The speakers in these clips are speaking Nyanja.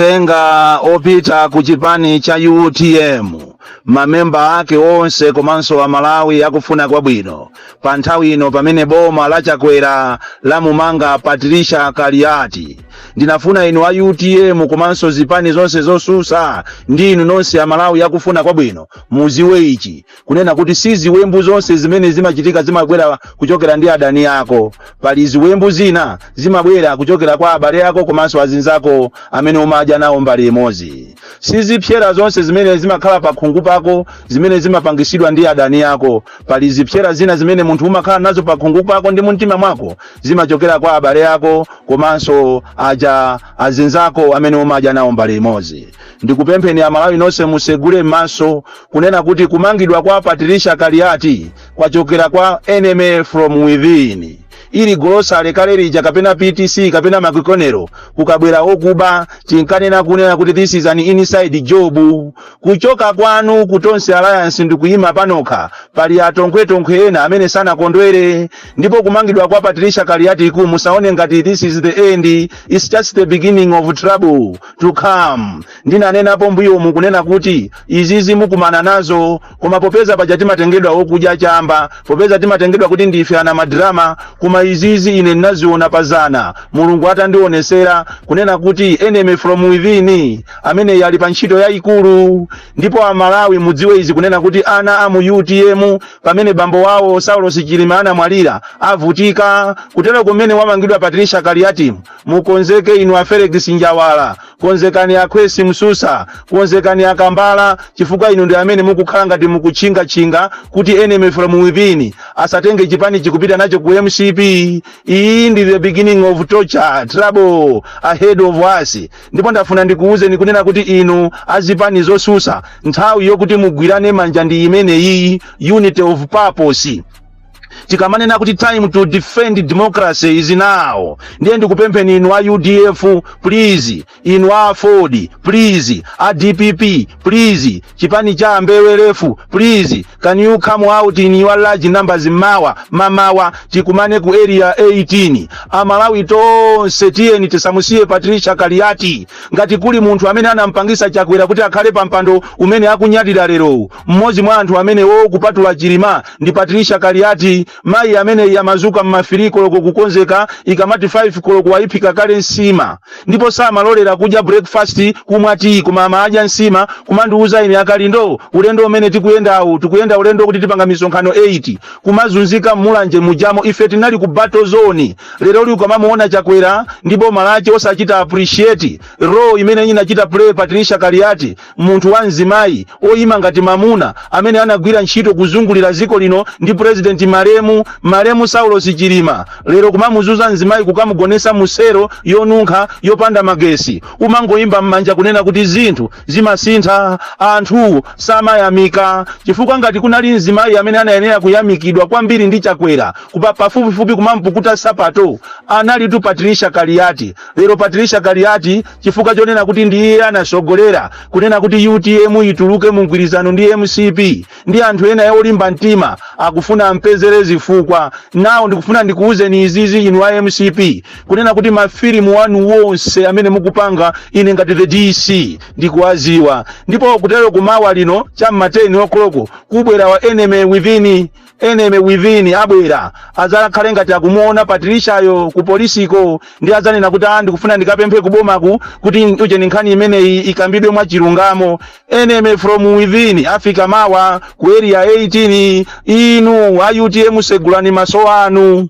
uthenga opita ku chipani cha utm mamembala ake onse komanso amalawi akufuna kwabwino pa nthawi ino pamene boma la chakwera lamumanga patricia kaliati ndinafuna inu a utm komanso zipani zonse zosusa ndi inu nonse amalawi akufuna kwabwino muziwe ichi kunena kuti si ziwembu zonse zimene zimachitika zimabwera kuchokera ndi adani ako pali ziwembu zina zimabwera kuchokera kwa abale ako komanso azinzako amene umadya nawo mbale imodzi si zipsera zonse zimene zimakhala pa khungu pako zimene zimapangisidwa ndi adani ako pali zipsera zina zimene munthu umakhala nazo pa khungu pako ndi mumtima mwako zimachokera kwa abale ako komanso aja azinzako amene umadya nawo mbale imodzi Ndikupempheni amalawi nonse musegule maso kunena kuti kumangidwa kwa Patricia Kaliati kwachokera kwa enemy from within. Ili golosale kale lija kapena PTC kapena McConnell kukabwera okuba tinkanena kunena kuti this is an inside job. Kuchoka kwanu ku Tonse Alliance ndikuyima panokha pali atonkhwetonkhwe ena amene sanakondwere ndipo kumangidwa kwa Patricia Kaliatiku musaone ngati this is the end. It's just the beginning of trouble. to come ndinanenapo mmbuyomu kunena kuti izizi mukumana nazo koma popeza paja timatengedwa okudya chamba popeza timatengedwa kuti ndife a madrama koma izizi ine ndinaziona pazana mulungu atandionesera kunena kuti enemy from within imene ili pa ntchito yayikulu ndipo amalawi mudziwe izi kunena kuti ana a mu utm pamene bambo wawo saulos chilima anamwalira avutika kutere mmene wamangidwa patricia kaliatimu mukonzeke inu a felix njawala konzekani a khwesi msusa konzekani a kambala chifukwa inu ndi amene mukukhala ngati mukutchingatchinga kuti enemy from within asatenge chipanichi kupita nacho ku mcp iyi ndi the beginning of torture trouble ahead of us ndipo ndafuna ndikuwuzeni kunena kuti inu azipani zosusa nthawi yokuti mugwirane manja ndi imene iyi unity of purpose tikamanena kuti time to defend democracy is now ndiye ndikupempheni inu a udf please inu a aford please a dpp please chipani cha ambewelefu please can you come out in your large numbers mawa mamawa tikumane ku area 18 amalawi tonse tiyeni tisamusiye patricia kaliati ngati kuli munthu amene anampangisa chakwera kuti akhale pa mpando umene akunyadira lerowu Mmodzi mwa anthu amenewo kupatula Chilima ndi Patricia Kaliati. Mayi ameneyi amazuka m'mafili koloko kukonzeka, ikamati 5 koloko wayiphika kale nsima. Ndipo samalolera kudya breakfast, kumwa tiyi koma amadya nsima, kumandiuza ine Akalindo ulendo umene tikuyendawu, tikuyenda ulendo kuti tipanga misonkhano 8. Kumazunzika m'Mulanje mujamo ife tinali ku battle zone. Leroli ukamamuona Chakwera ndi boma lache osachita appreciate role imene inachita play Patricia Kaliati, Munthu wa mzimayi oyima ngati mamuna amene anagwira ntchito kuzungulira dziko lino ndi pulezidenti malemu malemu Saulosi Chilima lero kumamuzuza mzimayi kukamugonesa mu selo yonunkha yopanda magesi umangoyimba mmanja kunena kuti zinthu zimasintha anthu samayamika chifukwa ngati kunali mzimayi amene anayenera kuyamikidwa kwambiri ndi Chakwera pafupifupi kumampukuta sapato analitu Patricia Kaliati lero Patricia Kaliati chifukwa chonena kuti ndi iye anasogolera kunena kuti utm ituluke mu mgwirizano ndi mcp ndi anthu ena olimba mtima akufuna ampezere zifukwa nawo ndikufuna ndikuwuzeni izizi inu a mcp kunena kuti mafilimu wanu wonse amene mukupanga ine ngati the dc ndikuwaziwa ndipo kutero kumawa lino cham'mateni koloko kubwera wa enemy within enemy within abwera adzakhale ngati akumuona Patricia-yo ku polisiko ndi adzanena kuti ah ndikufuna ndikapemphe kubomaku kuti ujeni nkhani imeneyi ikambidwe mwa chilungamo enemy from within afika mawa ku area 18 inu a utm segulani maso anu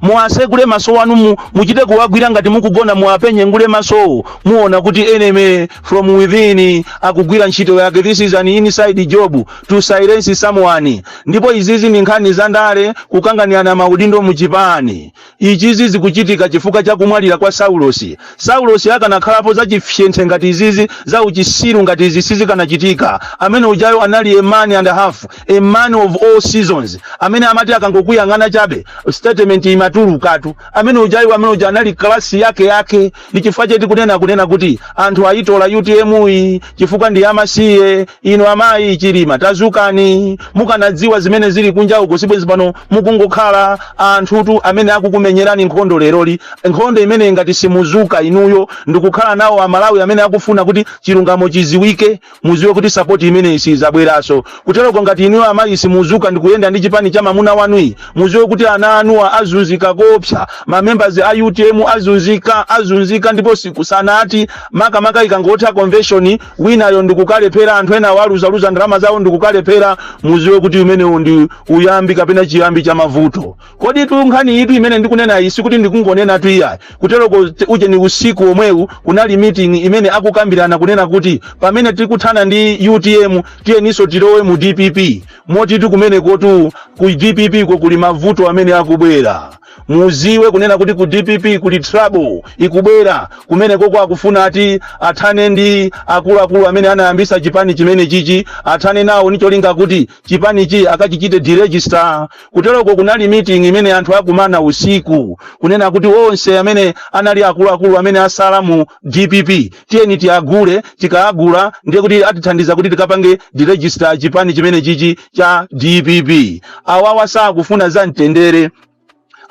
Muwasegule maso wanu mu, muchite kuwagwira ngati mukugona muwapenye ngwe masowo muona kuti enemy from within akugwira ntchito yake this is an inside job to silence someone ndipo izizi ndi nkhani za ndale kukanganirana maudindo mu chipani ichizi zikuchitika chifukwa cha kumwalira kwa Saulosi Saulosi akanakhalapo za chifyenthe ngati izizi za uchisiru ngati izi sizikanachitika amene ujayu anali a man and a half a man of all seasons amene amati akangokuyang'ana chabe statement imatulukatu amene ujayu amene uja anali kalasi yake yake ndi chifukwa chake kunena kunena kuti anthu ayitola utm yi chifukwa ndi amasiye inu amayi chilima tazukani mukanadziwa zimene zili kunja uko sibwezi pano mukungokhala anthutu amene akukumenyerani nkhondo leroli nkhondo imene ngati simuzuka inuyo ndikukhala nawo amalawi amene akufuna kuti chilungamo chiziwike muziwe kuti sapoti imeneyi siizabweraso kuteroko ngati inuyo amayi simuzuka ndikuyenda ndi chipani cha mamuna wanuyi muziwe kuti ana anuwa azunzika koopsa mamembazi a utm azunzika azunzika ndipo sikusanati makamaka ikangotha convention winayo ndikukalephera anthu enawo aluzaluza ndalama zawo ndikukalephera muziwe kuti umenewu ndi uyambi kapena chiyambi cha mavuto Kodi tu nkhani yitu imene ndikunena iyi sikuti ndikungonena tu iyayi kuteroko te- uje ni usiku omwewu kunali meeting imene akukambirana kunena kuti pamene tikuthana ndi utm tiyeniso tilowe mu dpp moti kumenekotu ku dpp ko kuli mavuto amene akubwera muziwe kunena kuti ku dpp kuli trouble ikubwera kumeneko ko akufuna ati athane ndi akuluakulu amene anayambisa chipani chimene chichi athane nawo ndicholinga kuti chipanichi akachichite deregister. Kuteroko kunali meeting imene anthu akumana usiku kunena kuti onse amene anali akuluakulu amene asala mu dpp tiyeni tiwagule, tikawagula ndiye kuti atithandiza kuti tikapange deregister chipani chimene chichi cha dpp. Awawa sakufuna za mtendere.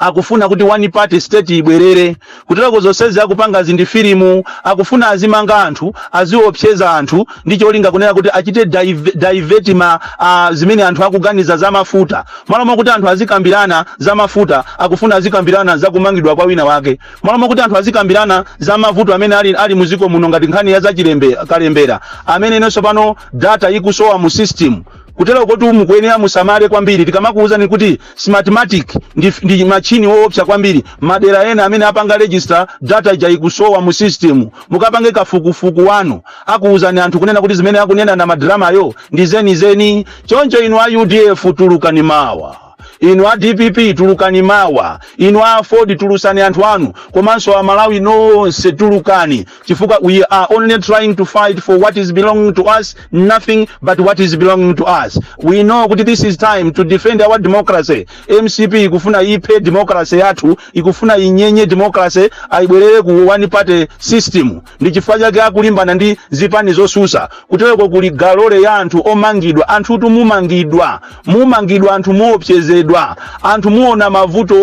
akufuna kuti one party state ibwerere kuteroko zonsezi akupangazi ndi filimu akufuna azimanga anthu aziopseza anthu ndi cholinga kunena kuti achite dive- divert ma ah, zimene anthu akuganiza za mafuta malo mokuti anthu azikambirana za mafuta akufuna azikambirana za kumangidwa kwa wina wake malo mokuti anthu azikambirana za mavuto amene ali, ali muziko muno ngati nkhani ya za chilembe- kalembera amene inenso pano data ikusowa mu system kuteroko ndiye mukuyenera musamale kwambiri tikamakuwuzani kuti Smartmatic ndi, ndi machine woopsa kwambiri madera ena amene apanga register data ija ikusowa mu system mukapange kafukufuku wanu akuwuzani anthu kunena kuti zimene akunena a Madramayo ndi zenizeni choncho inu a udf tulukani mawa inu a dpp tulukani mawa inu a aford tulusani anthu anu komanso amalawi nonse tulukani chifukwa we are only trying to fight for what is belonging to us nothing but what is belonging to us we know kuti this is time to defend our democracy mcp ikufuna iphe democracy yathu ikufuna inyenye democracy yi ibwerere ku one party system ndi chifukwa chake akulimbana ndi zipani zosusa kuteroko kuli galore ya anthu omangidwa anthutu mumangidwa mumangidwa anthu muopsezedwa anthu muona mavuto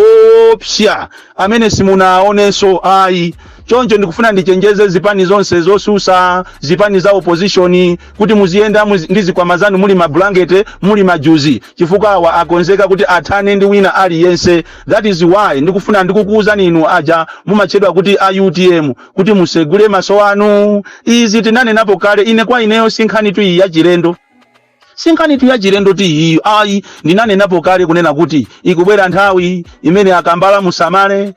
oopsa amene simunawaonenso ayi choncho ndikufuna ndichenjeze zipani zonse zosusa zipani za opposition kuti muziyenda muzi- ndi zikwama zanu muli mabulangete muli majuzi chifukwa awa akonzeka kuti athane ndi wina aliyense that is why ndikufuna ndikukuwuzani inu aja mumatchedwa kuti a utm kuti musegule maso anu izi tinanenapo kale ine kwa ineyo sinkhanitu yachilendo Sinkhanitu yachilendotu iyi ayi, ndinanenapo kale kunena kuti ikubwera nthawi imene a Kambala musamale,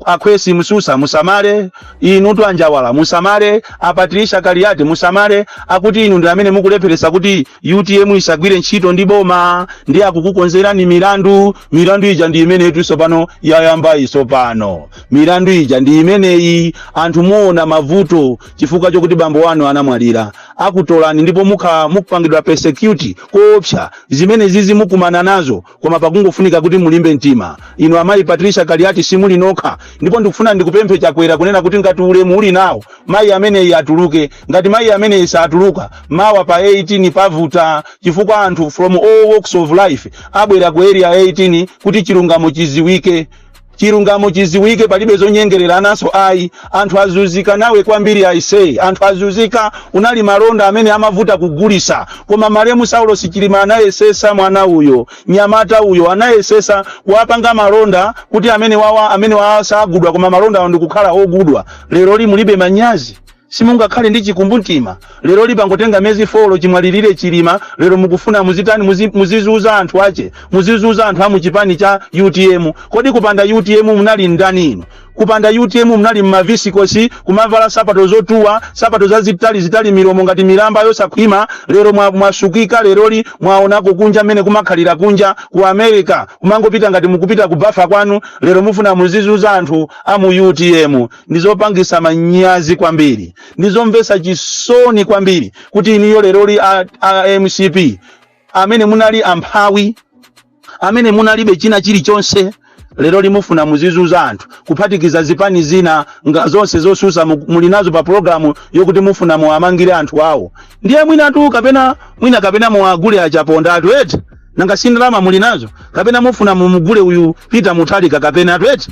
a Khwesi Msusa musamale, inutu a Njawala musamale, a Patricia Kaliati musamale, akuti inu ndi amene mukulepheretsa kuti utm isagwire ntchito ndi boma, ndiye akukukonzerani milandu, milandu ija ndi imeneyitu tsopano yayambayi tsopano, milandu ija ndi imeneyi, anthu muona mavuto chifukwa chokuti bambo wanu anamwalira akutolani ndipo mukhala mukupangidwa persecute koopsa zimenezizi mukumana nazo koma pakungofunika kuti mulimbe mtima inu amayi patricia kaliati simuli nokha ndipo ndikufuna ndikupemphe chakwera kunena kuti ngati ulemu uli nawo mayi ameneyi atuluke ngati mayi ameneyi satuluka mawa pa 18 pavuta chifukwa anthu from all walks of life abwera ku area 18 kuti chilungamo chiziwike Chilungamo chiziwike palibe zonyengererananso ayi anthu azuzika nawe kwambiri aise anthu azuzika unali malonda amene amavuta kugulisa koma malemu saulos chilima anayesesa mwana uyo nyamata uyo anayesesa kuwapanga malonda kuti amenewawa amenewawa sagudwa koma malonda awo ndikukhala ogudwa leroli mulibe manyazi Simungakhale ndi chikumbumtima. Leroli pangotenga miyezi folo chimwalilire chilima lero mukufuna muzitani muzi, muzizuza anthu ache muzizuza anthu amuchipani cha utm kodi kupanda utm munali ndani inu kupanda utm munali mmavisikosi kumavala sapato zotuwa sapato zazitali zitali milomo ngati milamba yosakhwima lero mwa, mwasukika leroli mwaonako kunja mmene kumakhalira kunja ku america kumangopita ngati mukupita kubafa kwanu lero mufuna muzizuza anthu amu utm ndi zopangisa manyazi kwambiri ndi zomvesa chisoni kwambiri kuti inuyo leroli a, a mcp amene munali amphawi amene munalibe china chilichonse leroli mufuna muzizuza anthu kuphatikiza zipani zina nga zonse zosusa mu- muli nazo pa programu yokuti mufuna muwamangire anthu awo ndiye mwinatu kapena mwina kapena muwagule achaponda atu eti nanga si ndalama muli nazo kapena mufuna mumugule uyu peter mutharika kapena atu eti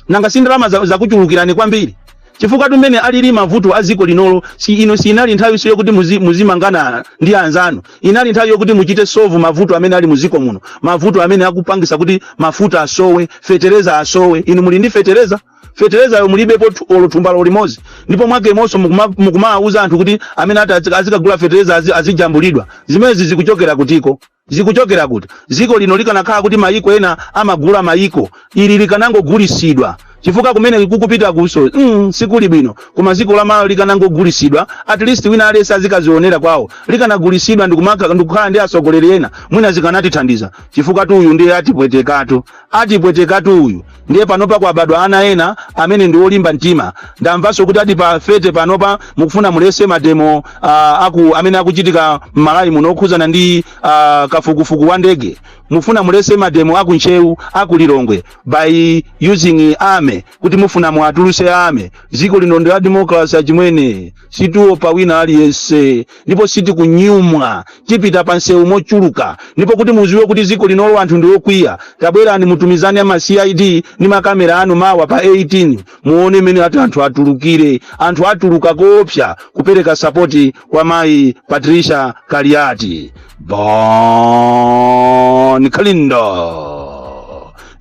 nanga si ndalama za- zakuchulukirani kwambiri chifukwa tu mmene alili mavuto a dziko linolo si ino sinali nthawi siyo kuti muzi- muzimangana ndi anzanu inali nthawi yokuti muchite solve mavuto amene ali muziko muno mavuto amene akupangisa kuti mafuta asowe fetereza asowe inu muli ndi fetereza feterezayo mulibepo thu- olo thumbalo limodzi ndipo mwakemonso mukuma- mukumawauza anthu kuti amene ati azi- azikagula fetereza azi- azijambulidwa zimenezi zikuchokera kutiko Zikuchokera kuti? Dziko lino likanakhala kuti mayiko ena amagula mayiko, ili likanangogulitsidwa chifukwa kumene likupitakunso mm, sikuli bwino. Koma dziko la Malawi likanangogulitsidwa, at least wina aliyense azikadzionera kwawo. Likanagulitsidwa ndi kumaka- ndi kukhala ndi atsogoleri ena, mwina zikanatithandiza chifukwa tu uyu ndiye atipwetekatu, atipwetekatu uyu. ndiye panopa kwabadwa ana ena amene ndi olimba mtima ndamvanso kuti ati pa 30 panopa mukufuna muletse mademo ah, aku amene akuchitika m'malawi muno okhuzana ndi ah, kafukufuku wa ndege mufuna muletse mademo aku ntcheu aku lilongwe by using army kuti mufuna muatuluse army dziko lino ndi la democracy achimwene sitiopa wina aliyense ndipo sitikunyumwa tipita pa msewu mochuluka ndipo kuti muziwe kuti ziko linolo anthu ndi okwiya tabwerani mutumizane ma cid ndi makamera anu mawa pa 18 muone mmene ati anthu atulukire anthu atuluka koopsa kupereka sapoti kwa mayi patricia kaliati bon kalindo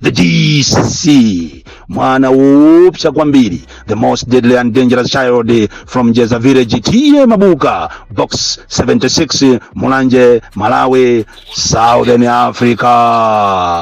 the dc mwana woopsa kwambiri the most deadly and dangerous child from jeza village tiye mabuka box 76 mulanje malawi southern africa